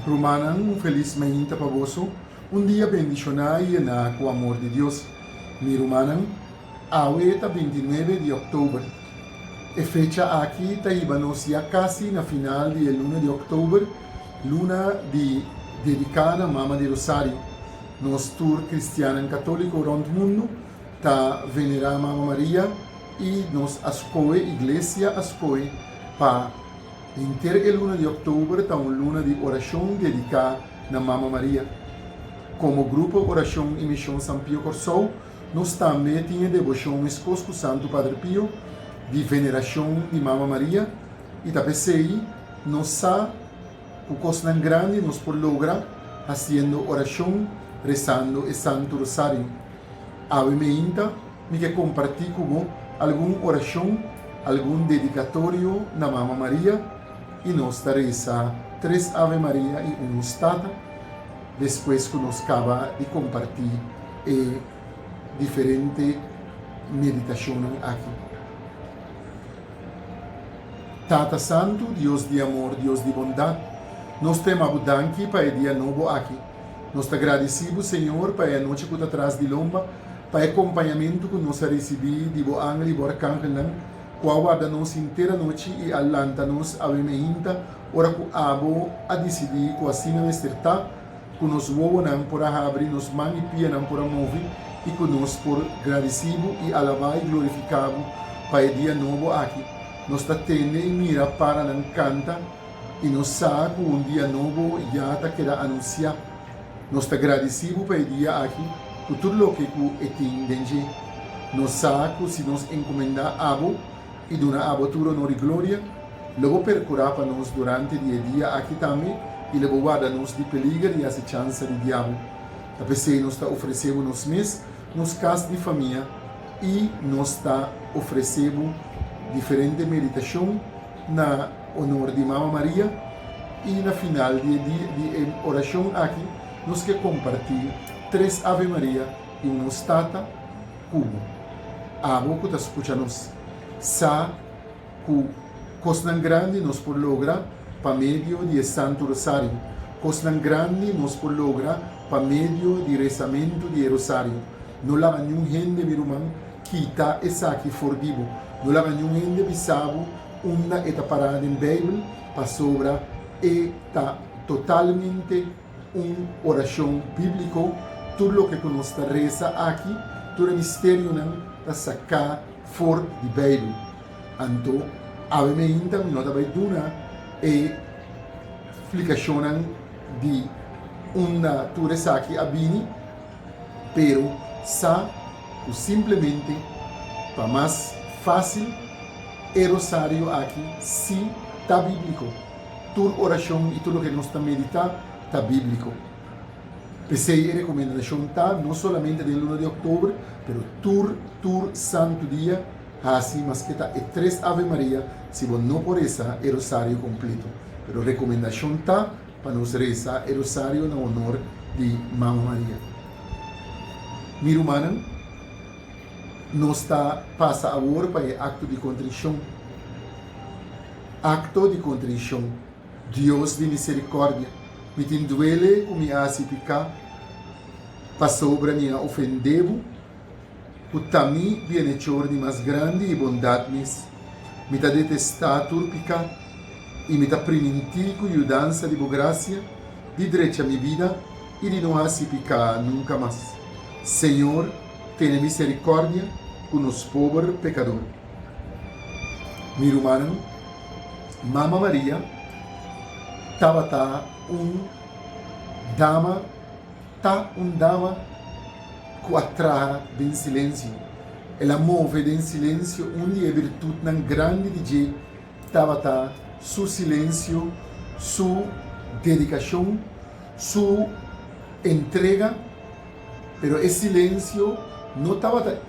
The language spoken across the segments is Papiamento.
Rumannan, un felis mainta pa boso, un dia bendishoná i yená ku amor di Dios. Mi rumannan, awe ta binti nuebe di òktober. E fecha aki ta hiba nos ya kasi na final di e luna di òktober, luna di dediká na Mama di Rosario. Nos tur cristiannan católico rond mundo ta venera Mama Maria y nos a scoge, Iglesia a scoge, pa henter e luna di october ta un luna di oracion dedica na Mama Maria. Como Grupo Oracion y Mision San Pio Corsou nos tambe tin e devocion mescos cu Santo Padre Pio di veneracion di Mama Maria y ta p'esey nos sa Ku kosnan grandi nos por logra hasiendo orashon resando e Santu Rosario? Awe meinta mi ke kompartí ku bo algun orashon, algun dedikatorio na Mama Maria i nos ta resa tres Ave Maria i un Nos Tata despues ku nos kaba di kompartí e diferente meditashonnan aki. Tata Santu, Dios di amor, Dios di bondat, nos ta yama Bo danki pa e dia nobo aki. Nos ta gradisí Bo, Señor, pa e anochi ku ta tras di lomba, pa e kompañamentu ku nos a risibí di Bo angel i Bo arkangelnan, ku a warda nos henter anochi i a lanta nos awe meinta, ora ku Abo a disidí ku asina mester ta. ku nos wowonan por a habri, nos man i pianan por a movi i ku nos por gradisí bo i alabá i glorifiká bo pa e dia nobo aki. Nos ta tende i mira paranan kanta i nos sa ku un dia nobo ya ta keda anunsiá. Nos ta gradisí bo pa e dia aki ku tur loke ku e tin den dje. Nos sa ku si nos enkomendá abo, i duna abo tur onor i gloria, lo bo perkurá pa nos durante di e dia aki tambe i lo bo warda nos di peliger i asechansa di Diabu. Ta p'esei nos ta ofresé bo nos mes, nos kas di famia i nos ta ofresé bo diferente meditashon na onor di Mama Maria, i na final di e dia di e orashon aki nos ke kompartí tres Ave Maria i un Nos Tata, Kubo abo ku ta skucha nos sa ku kosnan grandi nos por logra pa medio di e Santu Rosario, kosnan grandi nos por logra pa medio di resamentu di e rosario. No laga niun hende, mi ruman, kita esaki for di bo. No laga niun hende bisa bo unda e ta pará den Beibel, pasobra e ta totalmente. Un orashon bíbliko, Tur loke ku nos ta resa aki, tur e misterionan ta saká for di Beibel. Anto, awe meinta mi no ta bai duna e splikashonnan di unda tur esaki a bini, pero sa ku simplemente pa mas fásil e rosario aki sí ta bíbliko. Tur orashon i tur loke nos ta meditá ta bíbliko. P'esei e rekomendashon ta, no solamente den luna di òktober, pero tur tur santu dia, hasi maske ta e tres Ave Maria si bo no por resa e rosario kompleto. Pero rekomendashon ta pa nos resa e rosario na onor di Mama Maria. Mi rumannan, nos ta pasa awor pa e akto di kontrishon. Acto di contricion. Dios di misericordia, mi tin duele cu mi a haci pica, pasobra mi a ofende Bo, cu ta mi bienhechor di mas grandi y bondad mes. Mi ta detesta tur pica y mi ta priminti cu yudansa di Bo gracia di drecha mi bida y di no haci pica nunca mas. Señor, tene misericordia cu nos pober pecador. Mi rumannan, Mama Maria tabata un dama, ta un dama cu a traha den silencio. El a move den silencio. Un di e birtutnan grandi di dje tabata su silencio, su dedicacion, su entrega. Pero e silensio no tabata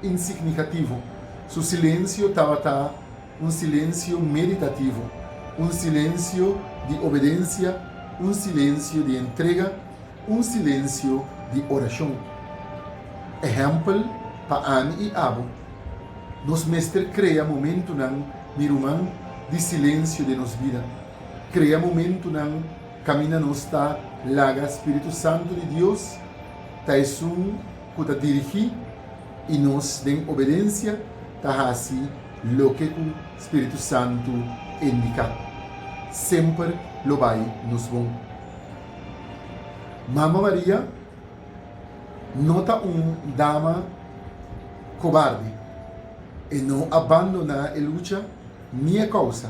insignificativo, su silensio tabata un silensio meditativo, un silensio di obedencia, un silensio di entrega, un silensio di oracion. Ehempel pa ami i abo, nos mester crea momentunan, mi ruman, di silensio den nos bida, crea momentunan, Kaminda nos ta laga Spiritu Santu di Dios ta esun ku ta dirigí i nos den obedensia ta hasi loke ku Spiritu Santu indiká, semper lo bai nos bon. Mama Maria no ta un dama kobarde. E no a bandoná e lucha ni e kousa.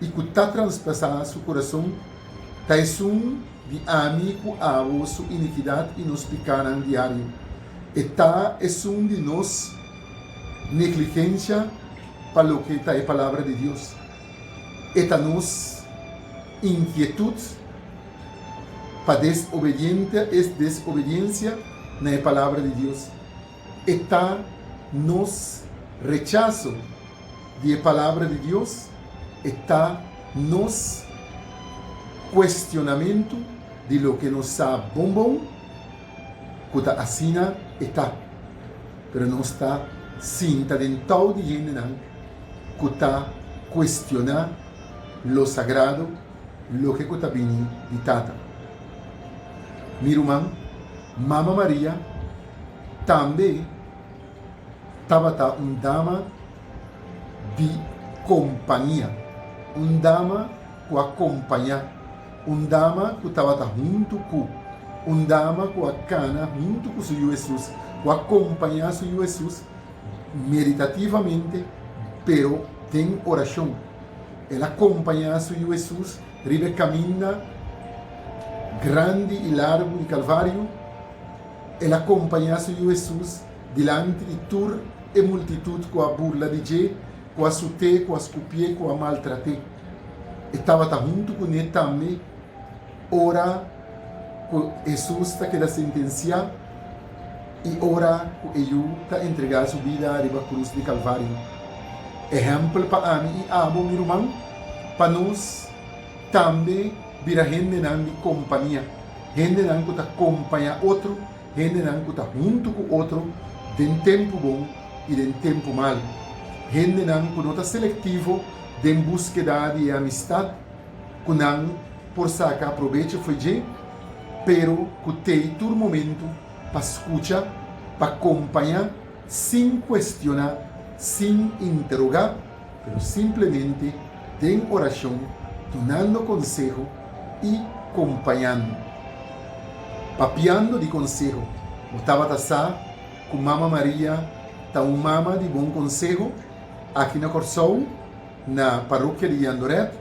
i ku ta traspasá su kurason ta esun di ami ku abo su inikidat i nos pikánan diario. E ta esun di nos negligensha pa loke ta e Palabra di Dios. E ta nos inkietut pa desobediente, desobediensia na e Palabra di Dios. e ta nos rechaso di e Palabra di Dios, e ta nos kuestionamentu di loke nos sa bon bon, ku ta asina e ta. Pero nos ta sinta den tou di hendenan ku ta kuestioná lo sagrado, loke ku ta bini di Tata. Mi ruman, Mama Maria Tambe tabata un dama di kompania, un dama ku a kompañá, un dama ku tabata huntu ku, un dama ku a kana huntu ku su Yu Hesus, ku a kompañá su Yu Hesus meditativamente, pero den orashon. El a kompañá su Yu Hesus riba e kaminda grandi i largu di Kalvariu. El a kompañá su Yu Hesus dilanti di tur e multitut ku a burla di dje, ku a sut'é, ku a skupié, ku a maltrat'é. E tabata huntu kuné tambe ora ku Hesus ta keda sentensiá i ora ku e yu ta entregá su bida riba krus di Kalvario. Ehèmpel pa ami i abo, mi ruman, pa nos tambe. bira hendenan di kompania, hendenan ku ta kompañá otro, hendenan ku ta huntu ku otro den tempu bon i den tempu mal, hendenan ku no ta selektivo den buskeda di e amistat ku nan por saka probecho fo'i dje, pero ku tei tur momentu pa skucha, pa kompañá sin kuestioná, sin interogá. pero simplemente den oracion dunando conseho y compañando. Papiando di conseho, bo tabata sa cu Mama Maria ta un Mama di bon conseho? Aki na Corsou, na Parokia di Yandoret,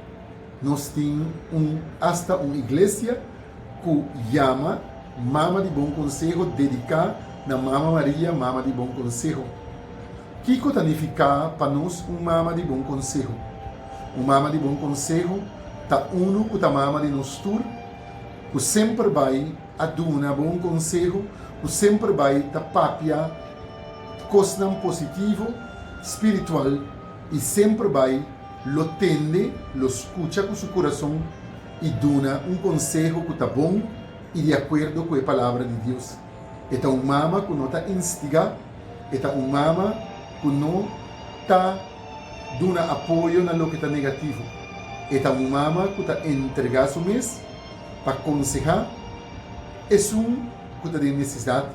nos tin un hasta un iglesia cu yama Mama di Bon Conseho dedica na Mama Maria, Mama di Bon Conseho. Kiko ta nifiká pa nos un mama di bon konseho? Un mama di bon konseho ta unu ku ta mama di nos tur, ku semper bai a duna bon konseho, ku semper bai ta papia kosnan positivo, spiritual i semper bai lo tende, lo skucha ku su kurason i duna un konseho ku ta bon i di akuerdo ku e Palabra di Dios. E ta un mama ku no ta instigá. E ta un mama ku no ta duna apoyo na loke ta negativo. E ta un mama ku ta entregá su mes pa konsehá esun ku ta den nesesidat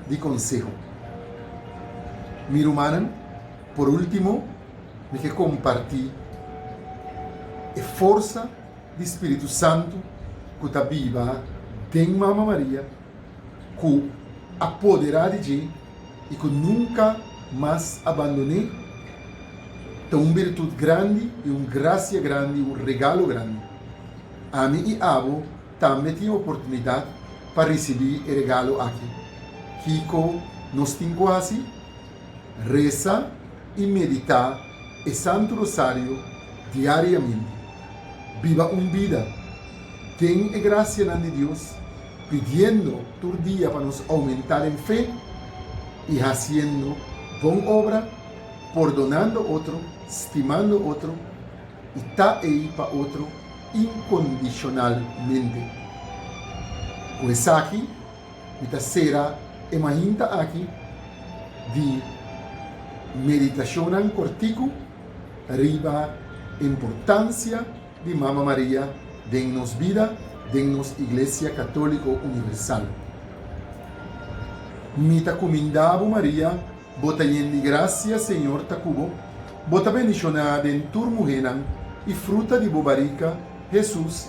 di konseho. Mi rumannan, por último mi ke kompartí e forsa di spiritu santu ku ta biba den Mama Maria, ku apoderá di dje i ku nunka mas a bandon'é, ta un birtut grandi i un grasia grandi, un regalo grandi. Ami i abo tambe tin oportunidat pa risibí e regalo akí. Kiko nos tin ku hasi? Resa i meditá e Santu Rosario diariamente, biba un bida den e gracianan di Dios, pidiendo tur dia pa nos aumenta den fe y haciendo bon obra, pordonando otro, stimando otro y ta ei pa otro incondicionalmente. Cu esaki. Mi ta sera e mainta aki di meditacionnan corticu riba e importancia di Mama Maria den nos bida, den nos Iglesia Catolico Universal. Mi ta cuminda bo Maria, bo ta yen di gracia, Señor ta cu bo, bo ta bendiciona den tur muhenan y fruta di bo barica, Jesús,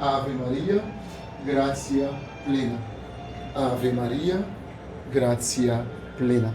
Ave Maria, gracia plena. Ave Maria, gracia plena.